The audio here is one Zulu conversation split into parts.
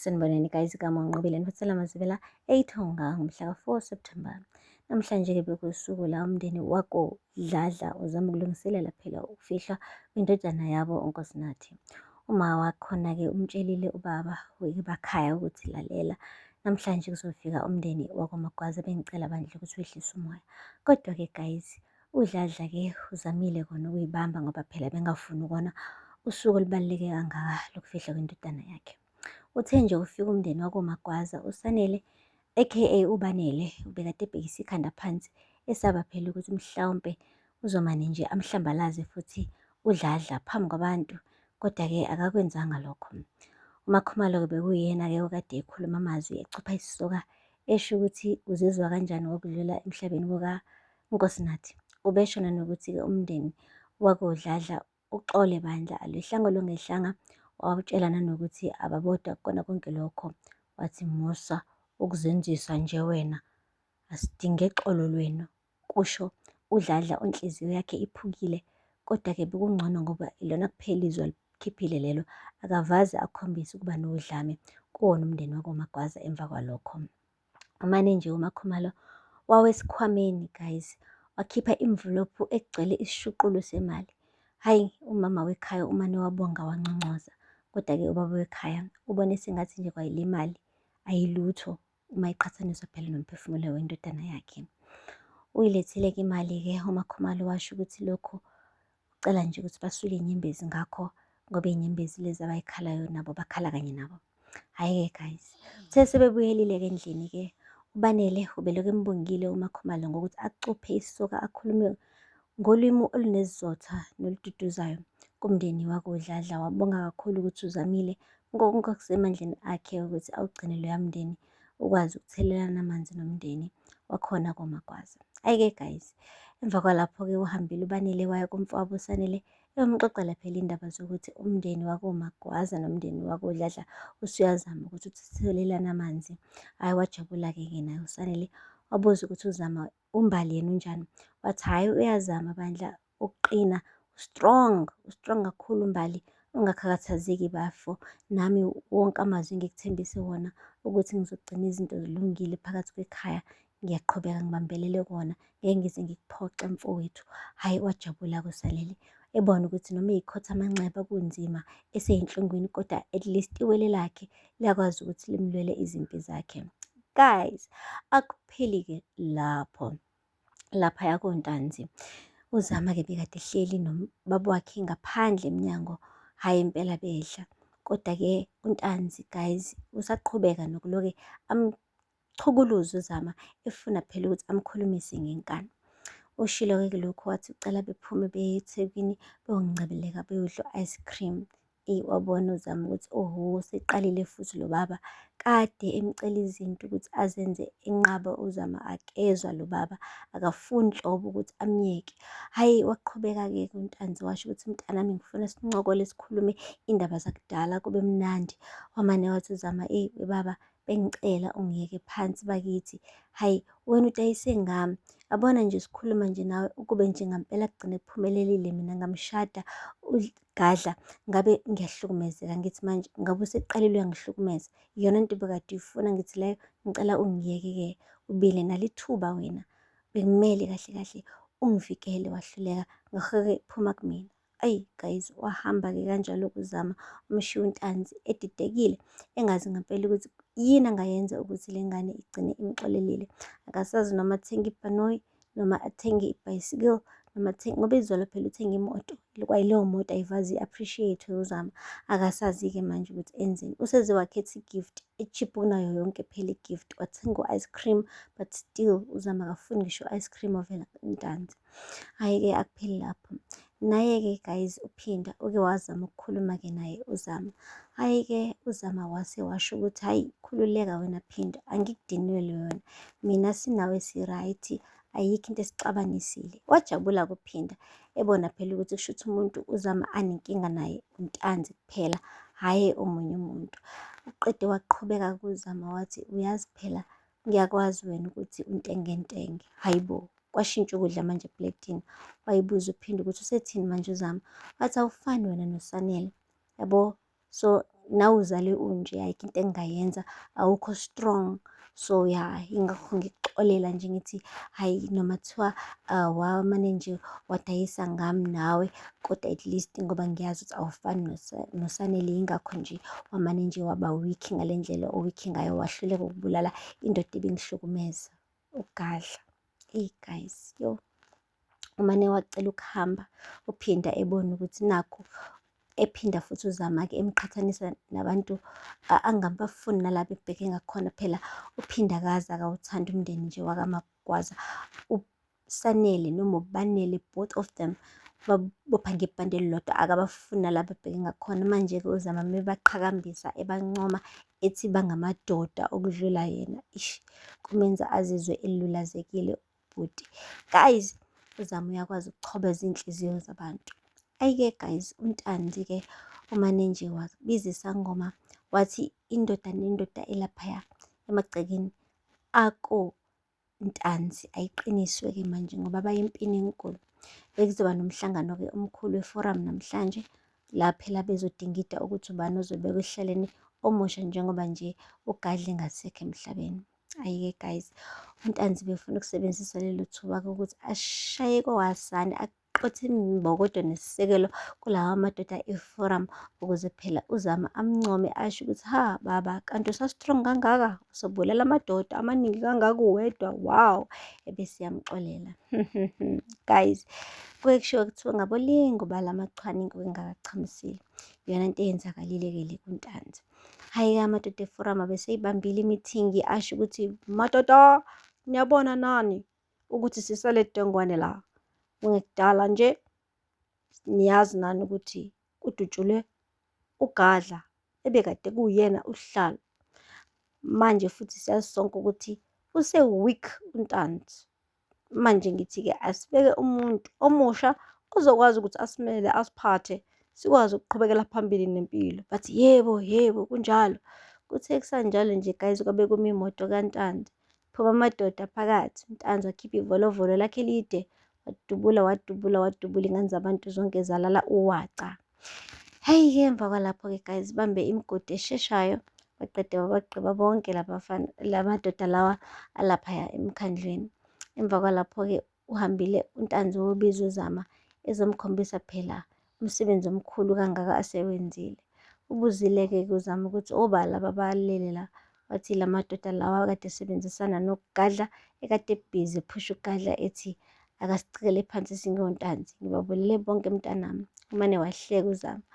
Sanibonani guys igama unqobile nifathela mazibela eyithonga ngomhla ka-4 September namhlanje-ke bekusuku la umndeni wako Dladla uzama ukulungiselela phela ukufihlwa kwindodana yabo uNkosinathi uma wakhona-ke umtshelile ubaba webakhaya ukuthi lalela namhlanje kuzofika umndeni wakwamagwaza bengicela bandla ukuthi wehlise umoya kodwa-ke guys UDladla ke uzamile kona ukuyibamba ngoba phela bengafuni kona usuku olubaluleke kangaka lokufihlwa kwendodana yakhe. Uthe nje ufika umndeni wakoMagwaza uSanele aka uBanele ubekade ebhekisa ikhanda phansi esaba phela ukuthi mhlawumpe uzomane nje amhlambalaze futhi uDladla phambi kwabantu kodwa-ke akakwenzanga lokho. UMakhumalo-ke bekuyena-ke okade ekhuluma amazwi ecupha isisoka esho ukuthi uzizwa kanjani ngokudlula emhlabeni kuka UNkosinathi ubeshona nokuthi-ke umndeni wakoDladla uxole bandla alwehlanga olungehlanga wawutshela nanokuthi ababodwa kukona konke lokho wathi musa ukuzenzisa nje wena asidinge xolo lwenu kusho udladla onhliziyo yakhe iphukile kodwa-ke bekungcono ngoba ilona kuphela izwe alikhiphile lelo akavaze akhombise ukuba nodlame kuwona umndeni wakomagwaza emva kwalokho Umane nje uMakhumalo wawesikhwameni guys, wakhipha imvulophu egcwele isishuqulo semali. Hhayi, umama wekhaya umane wabonga wanconcoza. Kodwa-ke ubaba wekhaya ubone sengathi nje kwayile mali ayilutho uma iqhathaniswa phela nomphefumulo wendodana yakhe. Uyilethile-ke imali-ke uMakhumalo washo ukuthi lokhu Ucela nje ukuthi basule inyembezi ngakho ngoba inyembezi lezi abayikhalayo nabo bakhala kanye nabo. Hhayi-ke guys, uthe sebebuyelile-ke endlini-ke uBanele ubelokhu embongile uMakhumalo ngokuthi acuphe isoka akhulume ngolimi olunezizotha nolududuzayo kumndeni wakuDladla. Wabonga kakhulu ukuthi uzamile ngokonke okusemandleni akhe ukuthi awugcine loya mndeni. ukwazi ukuthelelana amanzi nomndeni wakhona komagwaza ayike guys emva kwalapho-ke uhambile ubanele waya kumfowabo usanele eyomxoxela phela indaba zokuthi umndeni wakomagwaza nomndeni wakodladla usuyazama ukuthi uthelelane amanzi hhayi wajabula-ke ke naye usanele wabuza ukuthi uzama UMbali yena unjani? Wathi hhayi uyazama bandla ukuqina, strong, strong kakhulu uMbali. Ungakhathazeki bafo, nami wonke amazwi engikuthembise wona ukuthi ngizogcina izinto zilungile phakathi kwekhaya, ngiyaqhubeka ngibambelele kona, ngeke ngize ngikuphoxe mfowethu. Hhayi wajabula kuSalele, ebona ukuthi noma eyikhotha amanxeba kunzima, eseyinhlungwini kodwa at least iwele lakhe liyakwazi ukuthi limlwele izimpi zakhe guys akupheli-ke lapho lapha yakontanzi uzama-ke bekade hleli nobaba wakhe ngaphandle emnyango hhayi impela bedla kodwa-ke untanzi guys usaqhubeka nokuloke Chukuluza uZama efuna phela ukuthi amkhulumise ngenkani. Ushilo-ke kulokhu wathi ucela bephume beye eThekwini beyongcebeleka beyodla u-ice cream. Eyi wabona uZama ukuthi oho seqalile futhi lo baba kade emcela izinto ukuthi azenze enqaba uZama akezwa lo baba akafuni nhlobo ukuthi amyeke. Hhayi waqhubeka-ke uNtanzi washo ukuthi mntanami ngifuna sincokole sikhulume iy'ndaba zakudala kube mnandi. Wamane wathi uZama eyi baba Bengicela ungiyeke phansi bakithi. Hayi, wena udayise ngami. Abona nje sikhuluma nje nawe ukube nje ngampela kugcine kuphumelelile mina ngamshada ugadla ngabe ngiyahlukumezeka ngithi manje ngabe useqalile uyangihlukumeza iyona nto bekade uyifuna ngithi leyo ngicela ungiyeke-ke ubile nalithuba wena bekumele kahle kahle ungivikele wahluleka ngakho-ke phuma kumina Ayi guys, wahamba-ke kanjalo kuzama umshiya untanzi edidekile engazi ngempela ukuthi yini angayenza ukuthi le ngane igcine imxolelile. Akasazi noma athenge ibhanoyi noma athenge ibhayisikili noma athenge ngoba izolo phela uthenge imoto kwayileyo moto ayivazi i-appreciate uzama akasazi-ke manje ukuthi enzeni useze wakhetha i-gift e-cheap kunayo yonke phela i-gift wathenga u-ice cream but still uzama akafuni ngisho i-ice cream ovela ntanzi Hhayi-ke akupheli lapho. Naye-ke guys uPhinda uke wazama ukukhuluma-ke naye uZama. Hhayi-ke uZama wase washo ukuthi hhayi khululeka wena Phinda angikudinwele wena. Mina sinawe si-right ayikho into esixabanisile. Wajabula kuPhinda ebona phela ukuthi kusho ukuthi umuntu uZama anenkinga naye untanzi kuphela hhayi omunye umuntu. Uqede waqhubeka kuZama wathi uyazi phela Ngiyakwazi wena ukuthi untengentenge. Hhayi bo, kwashintsha ukudla manje epletini. Wayibuza uphinde ukuthi usethini manje uzama. Wathi awufani wena noSanele. Yabo, so nawe uzale unje, ayikho into engingayenza, awukho strong. So ya, yingakho ngikuxolela nje ngithi hhayi noma kuthiwa ah, wamane nje wadayisa ngami nawe, kodwa at least ngoba ngiyazi ukuthi awufani nosanele yingakho nje wamane nje waba weak ngale ndlela oweak ngayo wahluleka ukubulala indoda ebingihlukumeza ugadla hey guys yo umane wacela ukuhamba uphinda ebona ukuthi nakho ephinda futhi uzama-ke emqhathanisa nabantu angabafuni nalaba ebheke ngakhona phela uphinde akazi akawuthandi umndeni nje wakamagwaza uSanele noma uBanele both of them babopha ngebhande elilodwa akabafuni nalapho ebheke ngakhona manje-ke uzama mebaqhakambisa ebancoma ethi bangamadoda okudlula yena ish kumenza azizwe elulazekile ubhuti guys uzama uyakwazi ukuchoba izinhliziyo zabantu ayike guys untandi-ke umane nje wabiza isangoma wathi indoda nendoda elaphaya emagcekeni ako Ntanzi ayiqiniswe-ke manje ngoba baye empini enkulu. Bekuzoba nomhlangano-ke omkhulu weforamu namhlanje la phela bezodingida ukuthi ubani ozobekwa ehleleni omusha njengoba nje ugadle ngasekho emhlabeni. Ayike guys, uNtanzi befuna ukusebenzisa lelo thuba-ke ukuthi ashaye kowasani qotha imbokodo nesisekelo kulawa madoda eforum ukuze phela uzama amncome asho ukuthi ha baba kanti usastrong kangaka usobulala amadoda amaningi kangaka uwedwa wow ebese yamxolela guys kuke kushiwo kuthiwa ngabolingo balamachwaningo engakachamisile iyona nto eyenzakalile-ke le kuntanzi hhayi-ke amadoda eforum abeseyibambile imithingi asho ukuthi madoda niyabona nani ukuthi sisale dongwane la ngekudala nje niyazi nani ukuthi kudutshulwe ugadla ebekade kuyena uhlalo manje futhi siyazi sonke ukuthi use-weak untanzi manje ngithi-ke asibeke umuntu omusha ozokwazi ukuthi asimele asiphathe sikwazi ukuqhubekela phambili nempilo bathi yebo yebo kunjalo kuthe kusanjalo nje guys kwabe kumi imoto kantandi Phuma amadoda phakathi. Ntanzi wakhipha ivolovolo lakhe lide. Wadubula, wadubula, wadubula ingane zabantu zonke zalala uwaca. Hheyi-ke emva kwalapho-ke guys bambe imigodi esheshayo baqede babagqiba bonke laba madoda lawa alaphaya emkhandlwini. Emva kwalapho-ke uhambile uNtanzi wobiza uZama ezomkhombisa phela umsebenzi omkhulu kangaka asewenzile. Ubuzile-ke kuZama ukuthi obala babalele la, wathi la madoda lawa kade esebenzisana nokugadla ekade ebhizi ephusha ukugadla ethi akasicikele phansi singontanzi ngibabulele bonke mntanami umane wahleka uzama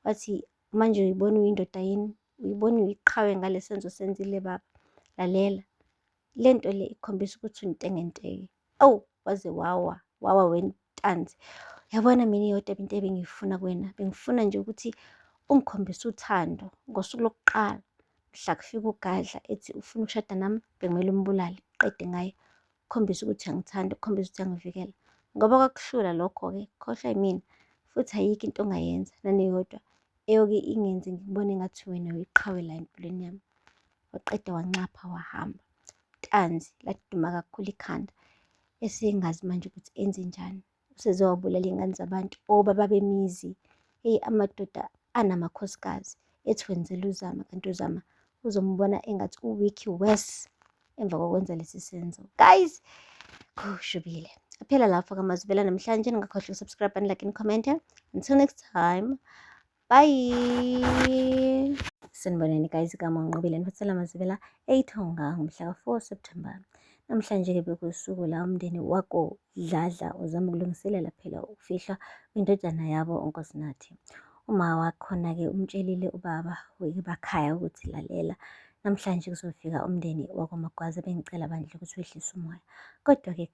wathi manje uyibona uyindoda yini uyibona uyiqhawe ngale senzo senzile baba lalela le nto le ikhombisa ukuthi untengenteke awu waze wawa wawa wentanzi yabona mina iyodwa into ebengiyifuna kuwena bengifuna nje ukuthi ungikhombise uthando ngosuku lokuqala mhla kufika ugadla ethi ufuna ukushada nami bekumele umbulale qede ngaye ukhombise ukuthi angithanda ukhombise ukuthi angivikela ngoba kwakuhlula lokho-ke khohlwa yimina futhi ayikho into ongayenza naneyodwa eyoke ingenze ngikubone ngathi wena uyiqhawe la empilweni yami waqeda wancapha wahamba tanzi laduma kakhulu ikhanda esengazi manje ukuthi enze njani usezowabulala iy'ngane zabantu obaba bemizi eyi amadoda anamakhosikazi ethi wenzela uzama kanti uzama uzombona engathi uwiki worse emva kokwenza lesi senzo guys kushubile aphela lapho kamazubela namhlanje ningakhohlwa ukusubscribe and like and comment until next time bye sanibonani guys igama unqobile niphathela amazibela eyithonga ngomhla ka-4 september namhlanje-ke bekusuku la umndeni wako dladla uzama ukulungiselela phela ukufihlwa kwindodana yabo unkosinathi uma wakhona-ke umtshelile ubaba webakhaya ukuthi lalela Namhlanje kuzofika umndeni wakwaMagwaza bengicela bandla ukuthi wehlise umoya. Kodwa-ke